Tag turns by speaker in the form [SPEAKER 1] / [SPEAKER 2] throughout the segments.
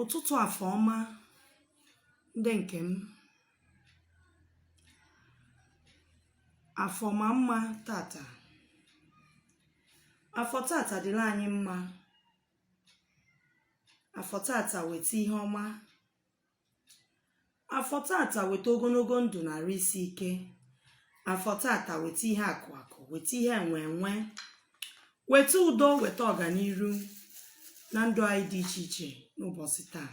[SPEAKER 1] ụtụtụ afọ ọma ndị nke m afọ maa mma tata afọ tata dịrị anyị mma afọ tata weta ihe ọma afọ tata weta ogologo ndụ na arụ isi ike afọ tata weta ihe akụ akụ weta ihe enwe enwe weta udo weta ọganiru na ndụ anyị dị iche iche n'ụbọchị taa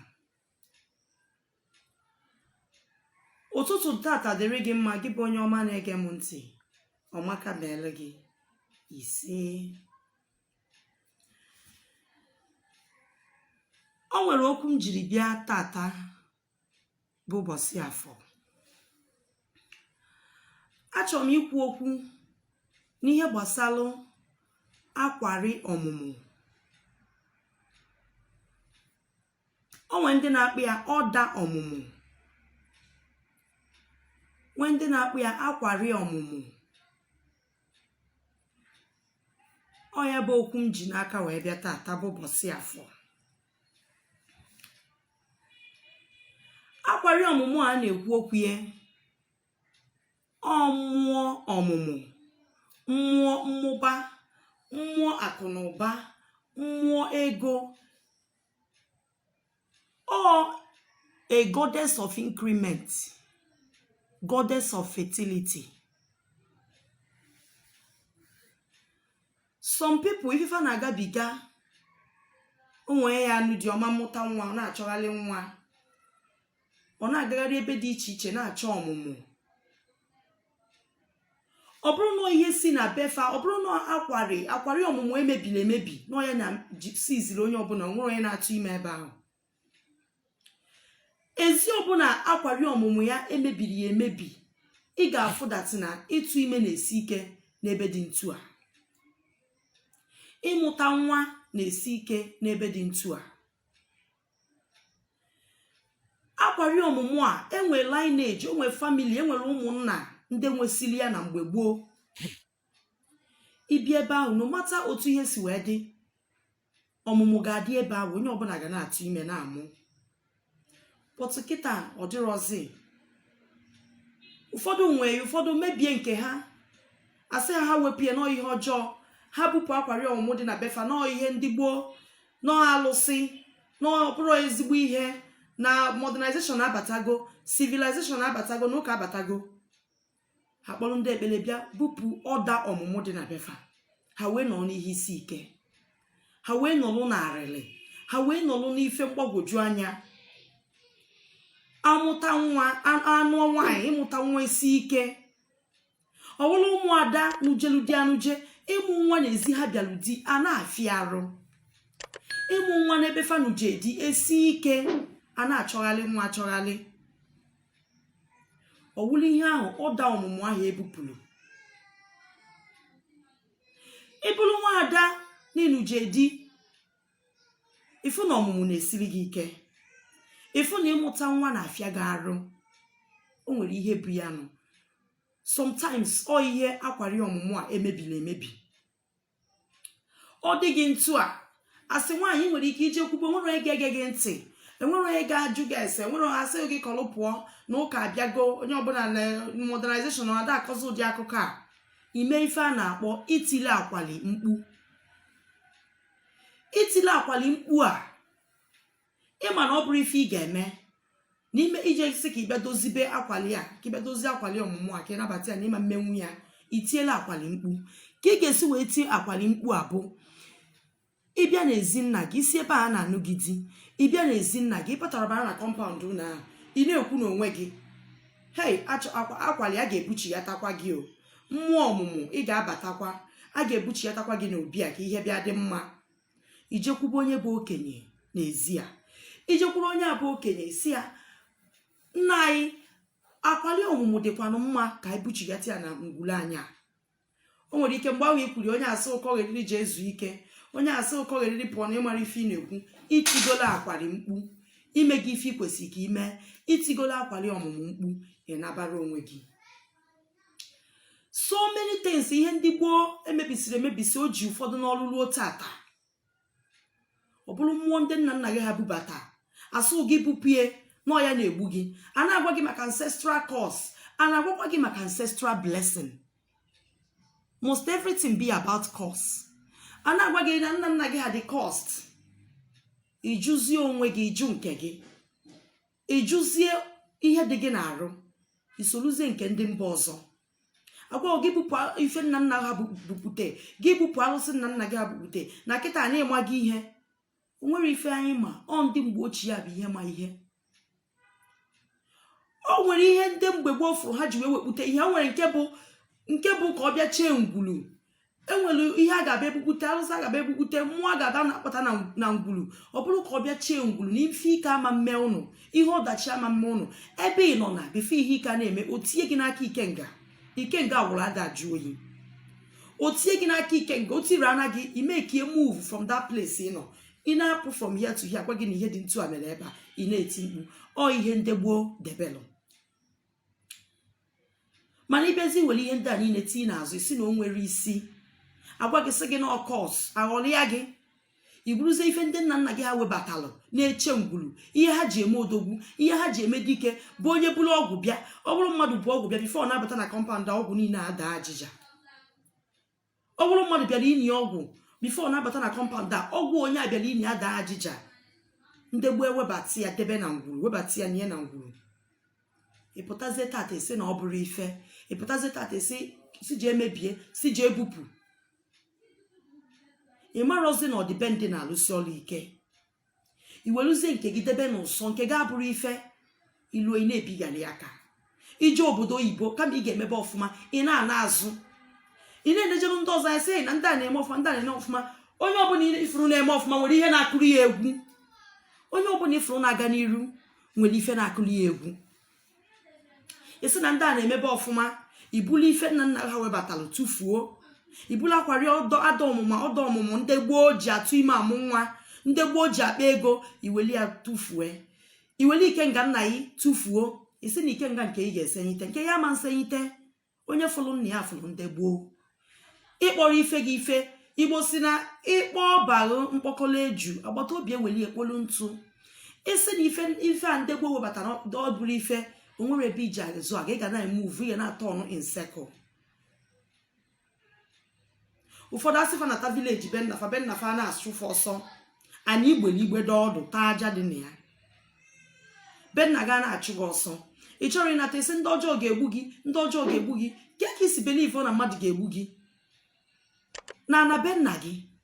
[SPEAKER 1] ụtụtụ tata dịrị gị mma gị bụ onye ọma na-ege m ntị ọmaka meelụ gị ise o nwere okwu m jiri bịa tata bụ ụbọchị afọ achọrọ m ikwu okwu n'ihe gbasalụ akwari ọmụmụ o nwere ndị na-akpọ ya ọda ọmụmụ nwee ndị na-akpọ ya akwari ọmụmụ ọ ya bụ okwu m ji n'aka wee bịa taata bụ ụbọchị afọ akwari ọmụmụ a na-ekwu okwu ya ọ mmụọ ọmụmụ mmụọ mmụba mmụọ akụ na ụba mmụọ ego or a goddess of increment goddess of fertility some people ife fa na-agabiga o nwee ya anụ di ọ ma amụta nwa ọ na-achọgharị nwa ọ na-agagharị ebe dị iche iche na-achọ ọmụmụ ọ bụrụ na ọ ihe si na befa ọ bụrụ na akwari akwari ọmụmụ emebiri emebi na onye na-esiziri onye ọbụla nwere onye na-atụ ime ebe ahụ ezi ọbụla akwari ọmụmụ ya emebiri ya emebi ị ga-afụ that na ịtụ ime na-esi ike n'ebe dị ntu a ịmụta nwa na-esi ike n'ebe dị ntu a akwari ọmụmụ a e nwee lineage e nwee family e nwere ụmụnna ndị nwesili ya na mgbe gboo i bi ebe ahụ no mata otu ihe si wee dị ọmụmụ ga-adị ebe ahụ onye ọbụla ga na-atụ ime na-amụ but kịta ọ dịrọzi ụfọdụ nwee ụfọdụ mebie nke ha asị ha ha wepụ ya na ọ ihe ọjọọ ha bupụ akwari ọmụmụ dị na befa na ọ ihe ndị gboo na ọọ alụsị na ọ bụrọ ezigbo ihe na modernization abatago civilization abatago na ụka abatago ha kpọrọ ndị ekpere bịa bupụ ọda ọmụmụ dị na befa ha wee nọrọ n'ihe isi ike ha wee nọlụ n'arịlị ha wee nọlụ n'ife mgbagwoju anya amụta nwa anụ nwaanyị ịmụta nwa isi ike ọ bụrụ ụmụada nụjelu di anụje ịmụ nwa n'ezi ha bịalụ di a na-afịa arụ ịmụ nwa n'ebe fa nụje di esi ike a na-achọghalị nwa achọghalị ọ wụrụ ihe ahụ ọda ọmụmụ ahụ e bupụrụ ị bụrụ nwaada na ị nụje di ịfụ na ọmụmụ na-esiri gị ike ịfụ na ịmụta nwa na-afịa gị arụ o nwere ihe bụ ya nụ sometimes ọ ihe akwari ọmụmụ a emebiri emebi ọ dị gị etu a as nwaanyị i nwere ike ije kwube enwere onye ga-ege gị ntị enwere onye ga-ajụ gị ese enwere onye asị gị kọlụ pụọ na ụka abịago onye ọbụla na modernization na ada akọzi ụdị akụkọ a ime ife a na-akpọ itili akwali mkpu itile akwali mkpu a ịma na ọ bụrọ ife ị ga-eme n'ime ije sị ka ị bịa dozibe akwali a ka ị bịa dozie akwali ọmụmụ a ka ị nabata ya na ị ma-emenwu ya itiela akwali mkpu ka ị ga-esi wee tie akwali mkpu a bụ ịbịa n'ezi nna gị i si ebe a na-anụ gị di ịbịa n'ezi nna gị ịpụtara bara na compound ụlọ ahụ ị na-ekwu n'onwe gị hei akwali a ga-ebuchiatakwa gị o mmụọ ọmụmụ ị ga-abatakwa a ga-ebuchiatakwa gị n'obi a ka ihe bịa dị mma ijekwube onye bụ okenye n'ezi a ijekwuru onye a bụ okenye sị ya nna anyị akwali ọmụmụ dịkwanụ mma ka anyị buchighata ya na ngwulu anyị a o nwere ike mgbe ahụ i kwuru onye asị ụ kọgheriri je zuo ike onye asị ụ kọgheriri pụọ na ịmarọ ife ị na-ekwu itigola akwari mkpu imego ife ikwesịrị ka ime itigola akwali ọmụmụ mkpu ị nabara onwe gị so many things ihe ndị gboo emebisiri emebisi o ji ụfọdụ n'ọrụ ruo tata ọ bụrụ mmụọ ndị nna nna gị ha bubata asị gị bupụ ya na ọ ya na-egbu gị a na-agwa gị maka ancestral curse a na-agwakwa gị maka ancestral blessing must everything be about curse a na-agwa gị na nna nna gị ha dị cursed ịjụzie onwe gị ịjụ nke gị ịjụzie ihe dị gị n'arụ isoluzie nke ndị mba ọzọ agwa gị bupụ ife nna nna ha bupute gị bupụ alụsị nna nna gị ha bupute na kịta na ịmago ihe o nwere ife anyị ma ọ ndị mgbe ochie ya bụ ihe ma ihe o nwere ihe ndị mgbe gboo fụrụ ha ji wee wepute ihe o nwere nke bụ nke bụ ka ọ bịa chee ngwulu enwere ihe a ga-abịa ebukwute arụsị a ga-abịa ebukwute mmụọ a ga-abịa na-akpọta na ngwulu ọ bụrụ ka ọ bịa chee ngwulu na ife ike ama mme unu ihe ọdachi ama mme unu ebe ị nọ na before ihe ike a na-eme o tinye gị n'aka ikenga ikenga gwụrụ ada ajụ oyi o tinye gị n'aka ikenga o tiri ana gị i mee ka ị move from that place ị nọ ị na-apụ from here to here gwa gị na ihe dị ntu a mere ebe a ị na-eti mkpu ọ ihe ndị gboo debelụ mana ị bịazie were ihe ndị a niile tinye n'azụ ị sị na o nwerọ isi a gwa gị sị gị na ọ curse aghọrịa gị i buruzie ife ndị nna nna gị ha webatalụ na-eche ngwuru ihe ha ji eme odogwu ihe ha ji eme dike bụ onye buru ọgwụ bịa ọ bụrụ mmadụ bu ọgwụ bịa before ọ na-abata na compound ọgwụ niile adaa ajịja ọ bụrụ mmadụ bịara ini ọgwụ before ọ na-abata na compound a ọgwụ onye a bịara ini adaa ajịja ndị gboo ewebata ya debe na ngwuru webata ya nye na ngwuru ị pụtazie tata ị sị na ọ bụrọ ife ị pụtazie tata ị sị sị jee mebie sị jee bupụ ị marọzi na ọdịbendị na-alụsi ọrụ ike i weluzie nke gị debe n'ụsọ nke gị abụrụ ife ilu ị na-ebigharị aka i jee obodo oyibo kama ị ga-emebe ọfụma ị na-ana azụ ị na-enejeru ndị ọzọ anya sị na ndị a na-eme ọfụma ndị a na-eme ọfụma onye ọbụla ị fụrụ na-eme ọfụma nwere ihe na-akụrụ ya egwu onye ọbụla ị fụrụ na-aga n'iru nwere ife na-akụrụ ya egwu ị sị na ndị a na-emebe ọfụma i bulu ife nna nna ha webatalụ tụfuo i bulu akwari ọda ọmụmụ ndị gboo ji atụ ime amụ nwa ndị gboo ji akpa ego i weli ya tụfue i weli ikenga nna gị tụfuo ị sị na ikenga nke ị ga-esenyite nke ya ama nsenyite onye fụrụ nna ya fụrụ ndị gboo ị kpọrọ ife gị ife igbo sị na ị kpọ ọba gị mkpọkọrọ eju agbata obi ewelie kpolu ntụ ị sị na ife ife a ndị gboo webatara ọ bụrọ ife o nwerọ ebe i ji azụ aga ị ga na-emove ị ga na-aturn in circle ụfọdụ a sị fa nata village be nna fa be nna fa a na-achụ fa ọsọ ana i gbele igbe dọ ọdụ taa aja dị na ya be nna gị a na-achụ gị ọsọ ị chọrọ ịnata ị sị ndị ọjọọ ga-egbu gị ndị ọjọọ ga-egbu gị ke ka i si believe na mmadụ ga-egbu gị na ana be nna gị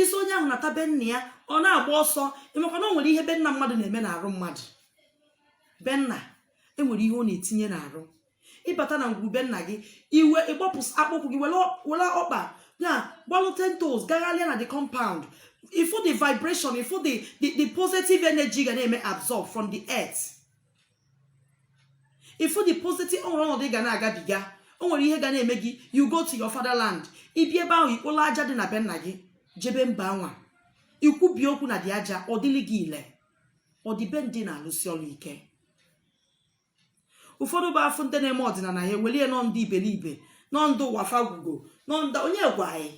[SPEAKER 1] ị sị onye ahụ nata be nna ya ọ na-agba ọsọ ị makwa na o nwere ihe be nna mmadụ na-eme n'arụ mmadụ be nna enwere ihe ọ na-etinye n'arụ ị bata na ngwuru be nna gị i wee gbapụ akpụkwụ gị were ọkpa a gbalụ ten toes gagharịa na the compound ị fụ the vibration ị fụ the the positive energy ga na-eme absorb from the earth ifu the positive o nwere ọnọdụ ị ga na-agabiga o nwere ihe ga na-eme gị you go to your fatherland ibi ebe ahụ ikpolo aja dị na be nna gị jebe mba anwa ikwubi okwu n'ụdị aja ọ dịlị gị ile ọdịbe ndị na-alụsi ọrụ ike ụfọdụ bụ afụ ndị na-eme ọdịnala ya ewelie na ọ ndị iberibe na ọ ndị ụwa fa gwụgo na ọ ndị onye gwa anyị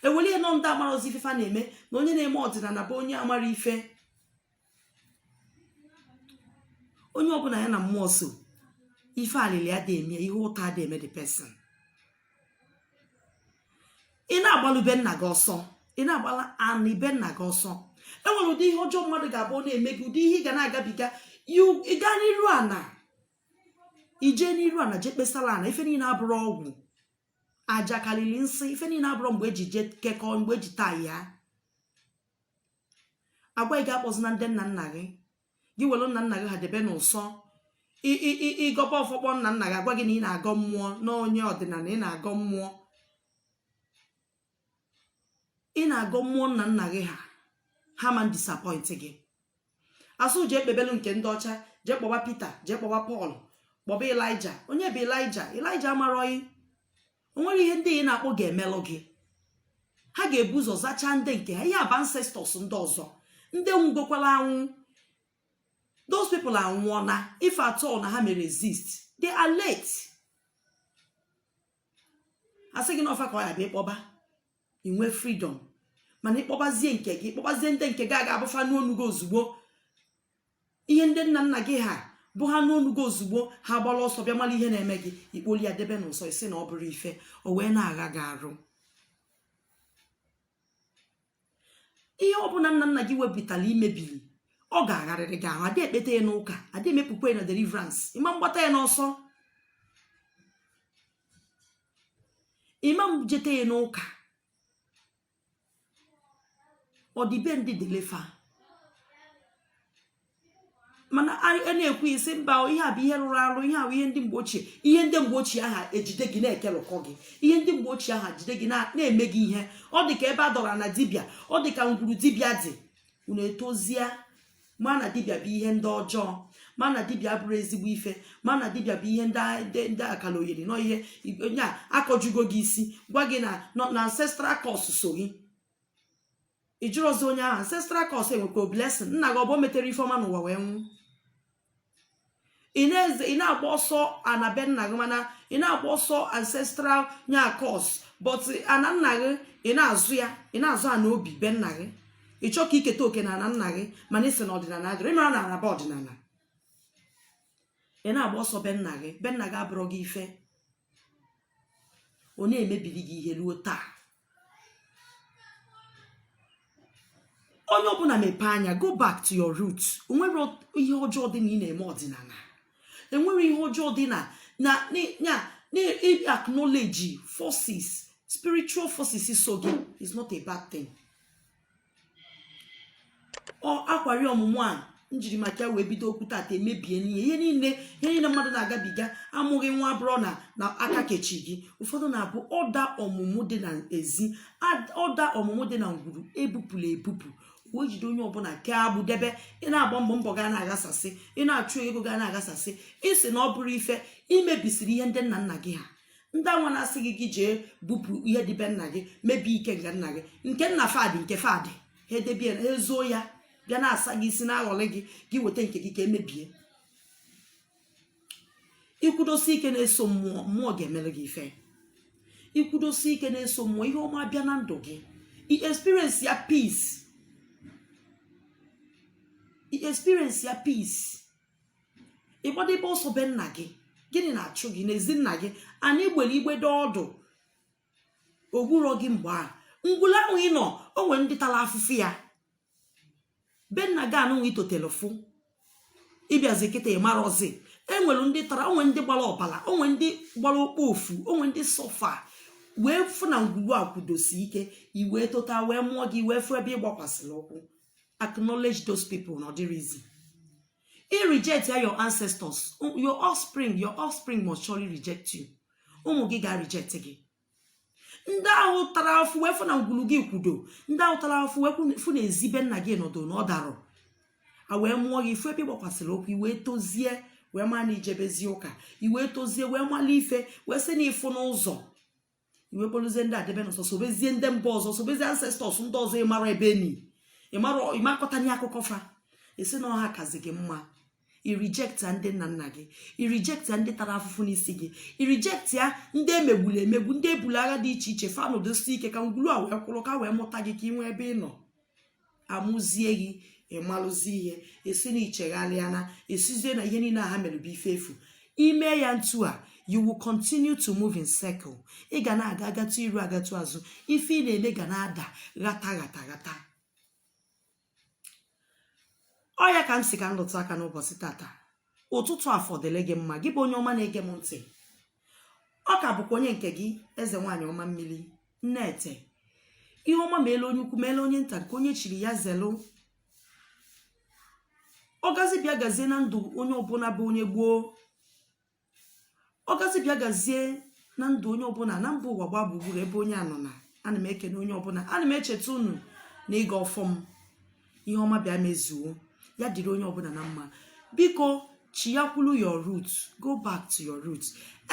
[SPEAKER 1] ewelie na ọ ndị amarọzi ife fa na-eme na onye na-eme ọdịnala bụ onye amarọ ife onye ọbụla ya na mmụọ so ife alịlị adị eme ihe ụta adị eme the person ị na-agbalụ be nna gị ọsọ ị na-agbala anị be nna gị ọsọ enwere ụdị ihe ọjọọ mmadụ ga-abụ ọ na-eme gị ụdị ihe ị ga na-agabiga ị gaa n'iru ana ije n'iru ana jee kpesala ana ife niile abụrọ ọgwụ aja kalịlị nsị ife niile abụrọ mgbe eji je kekọọ mgbe eji taa ya agwa gị akpọzina ndị nna nna gị gị welu nna nna gị ha debe n'ụsọ ị gọba ọfọ kpọọ nna nna gị agwa gị na ị na-agọ mmụọ na onye ọdịnala ị na-agọ mmụọ ị na-agọ mmụọ nna nna gị ha ha ma disappoint gị asị jee kpebelu nke ndị ọcha jee kpọba Pita jee kpọba Pọl kpọba Ịlaịja onye bụ Ịlaịja Ịlaịja amarọ gị onwere ihe ndị ị na-akpọ ga-emelụ gị ha ga-ebu ụzọ zachaa ndị nke ha ihe a bụ ancestors ndị ọzọ ndị nwugokwala anwụ those people anwụọna if at all na ha mere exist they are late asị gị na ọ fa ka ọ ya-abụ ịkpọba inwe freedom mana ịkpọbazie nke gị ịkpọbazie ndị nke gị ga-abụ fa nụ onu gị ozugbo ihe ndị nna nna gị ha bụ ha nụ onu gị ozugbo ha gbara ọsọ bịa mara ihe na-eme gị ị kpolie ha debe n'ụsọ ị sị na ọ bụrọ ife o wee na-agha gị arụ ihe ọbụla nna nna gị wepụtara imebiri ọ ga-agharịrị gị ahụ adị ekpeta ya n'ụka adị emepụkwa ya na deliverance ịma mgbata ya n'ọsọ ịma jete ya n'ụka ọdịbe ndị delefa mana a na-ekwu ị sị mba ihe a bụ ihe rụrụ arụ ihe a bụ ihe ndị mgbe ochie ihe ndị mgbe ochie ahụ ejide gị na-ekelụkọ gị ihe ndị mgbe ochie ahụ jide gị na-eme gị ihe ọ dị ka ebe a dọrọ na dibịa ọ dị ka ngwuru dibịa dị unu etozie ma na dibịa bụ ihe ndị ọjọọ ma na dibịa abụrọ ezigbo ife ma na dibịa bụ ihe ndị akalogheri na ọ ihe onye a akọjugo gị isi gwa gị na na ancestral curse so gị ị jụrọzị onye ahụ ancestral curse enwekwa blessing nna gị ọ bụ o metere ife ọma n'ụwa wee nwụ ị na-agba ọsọ ana be nna gị mana ị na-agba ọsọ ancestral nya curse but ana nna gị ị na-azọ ya ị na-azọ ana obi be nna gị ị chọọ ka i keta oke na ana nna gị mana ị sị na ọdịnana adịrọ ịmara na anaba ọdịnana ị na-agba ọsọ be nna gị be nna gị abụrọ gị ife ọ na-emebiri gị ihe ruo taa onye ọbụna mepee anya go back to your roots o nwerọ ihe ọjọọ dị na ị na-eme ọdịnana enwerọ ihe ọjọọ dị na acknowledge forces spiritual forces so gị is not a bad thing ọ akwari ọmụmụ a njiri maka ya wee bido okwu tata emebie n'ihe ihe niile ihe niile mmadụ na-agabiga amụghị nwa abụrọ na aka kechi gị ụfọdụ na-abụ ọda ọmụmụ dị na ezi ad- ọda ọmụmụ dị na ngwuru ebupụla ebupụ wee jide onye ọbụna kee agbụ debe ị na-agba mbọ mbọ ga na-aghasasị ị na-achụ ego ga na-aghasasị ị sị na ọ bụrọ ife i mebisiri ihe ndị nna nna gị ha ndị anwa na-asị gị gị jee bupụ ihe dị be nna gị mebie ikenga nna gị nke nna fa dị nke fa dị ha edebe ha ezoo ya bịa na-asa gị isi na-aghọlị gị gị weta nke gị ka emebie ikwudosi ike na-eso mmụọ mmụọ ga-emere gị ife ikwudosi ike na-eso mmụọ ihe ọma bịa na ndụ gị i experience ya peace i experience ya peace ịgbadebe ọsọ be nna gị gịnị na-achụ gị n'ezi nna gị ana i gbere igbe dị ọdụ ogburọ gị mgbe a ngwulu ahụ ị nọ o nwere ndị tara afụfụ ya be nna gị anụnwa itotele fụ ịbịazi kịta ịmarọzi enwere ndị tara o nwere ndị gbara ọbara o nwere ndị gbara okpofu o nwere ndị suffer wee fụ na ngwulu a kwudosi ike i wee tota wee mụọ gị wee fụ ebe ị gbakwasịrị ụkwụ acknowledge those people na ọ dịrọ easy i reject ya your ancestors your offspring your offspring must surely reject you ụmụ gị ga reject gị ndị ahụ tara afụfụ wee fụ na ngwulu gị kwudo ndị ahụ tara afụfụ wee fụ na ezi be nna gị nọdụ na ọ darọ a wee mụọ gị ị fụ ebe ị gbakwasịrị ụkwụ iwee tozie wee ma na ijebezi ụka iwee tozie wee mala ife wee sị na ị fụna ụzọ i wee kpoluzie ndị a debe n'ụsọ sobezie ndị mba ọzọ sobezie ancestors ndị ọzọ ịmara ebe eni ịmakọtanye akụkọ fa ị sị na ọ ha kazi gị mma i reject ya ndị nna nna gị i reject ya ndị tara afụfụ n'isi gị i reject ya ndị emegburu emegbu ndị ebulu agha dị iche iche fa nọdosi ike ka ngwulu a wee kwụrụ ka wee mụta gị ka ị nwee ebe ị nọ amụzie gị ịmalụzi ihe ị sị na i chegharịana ị sịzie na ihe niile a ha mere bụ ife efu ime ya ntu a you will continue to move in circle ị ga na-aga agatụ iru agatụ azụ ife ị na-eme ga na-ada ghata ghata ghata ọ ya ka m si ka m lụtụ aka n'ụbọchị tata ụtụtụ afọ dịlị gị mma gị bụ onye ọma na-ege m ntị ọ ka bụkwa onye nke gị eze nwaanyị ọma mmiri nne ete ihe ọma meelụ onye ukwu meelụ onye nta nke onye chiri ya zelụ ọ gazi bịa gazie na ndụ onye ọbụla bụ onye igbo ọ gazi bịa gazie na ndụ onye ọbụla na mba ụwa gbaa gburugburu ebe onye anọ na ana m ekene onye ọbụla ana m echeta unu n'ịgọ ọfọ m ihe ọma bịa mezuo ya dịrị onye ọbụla na mma biko chiyakwulu your root go back to your root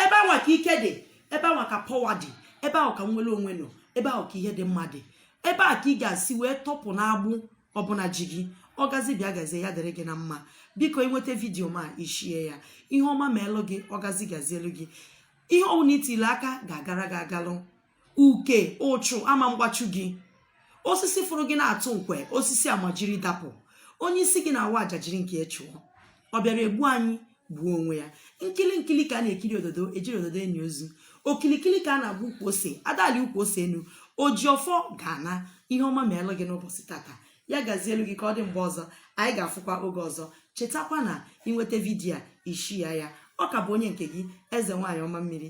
[SPEAKER 1] ebe anwa ka ike dị ebe anwa ka power dị ebe ahụ ka nnwere onwe nọ ebe ahụ ka ihe dị mma dị ebe a ka ị ga-esi wee tọpụ n'agbụ ọbụna ji gị ọ gazi bịa gazie ya dịrị gị na mma biko ị nweta video m a ị share ya ihe ọma meelụ gị ọ gazi gazielu gị ihe ọbụla i tiile aka ga-agara gị agalụ uke uchu ama mgbachu gị osisi fụrụ gị na-atụ nkwe osisi amajiri dapụ onye isi gị na-awa aja jiri nke ya chụọ ọ bịara egbu anyị gbuo onwe ya nkili nkili ka a na-ekiri ododo ejirọ ododo eni ozu okilikili ka a na-agba ukwu ose ada alị ukwu ose enu oji ọfọ ga-ana ihe ọma meelụ gị n'ụbọchị tata ya gazielu gị ka ọ dị mgbe ọzọ anyị ga-afụkwa oge ọzọ chetakwa na ị nweta video a ị share ya ọ ka bụ onye nke gị eze nwaanyị ọma mmiri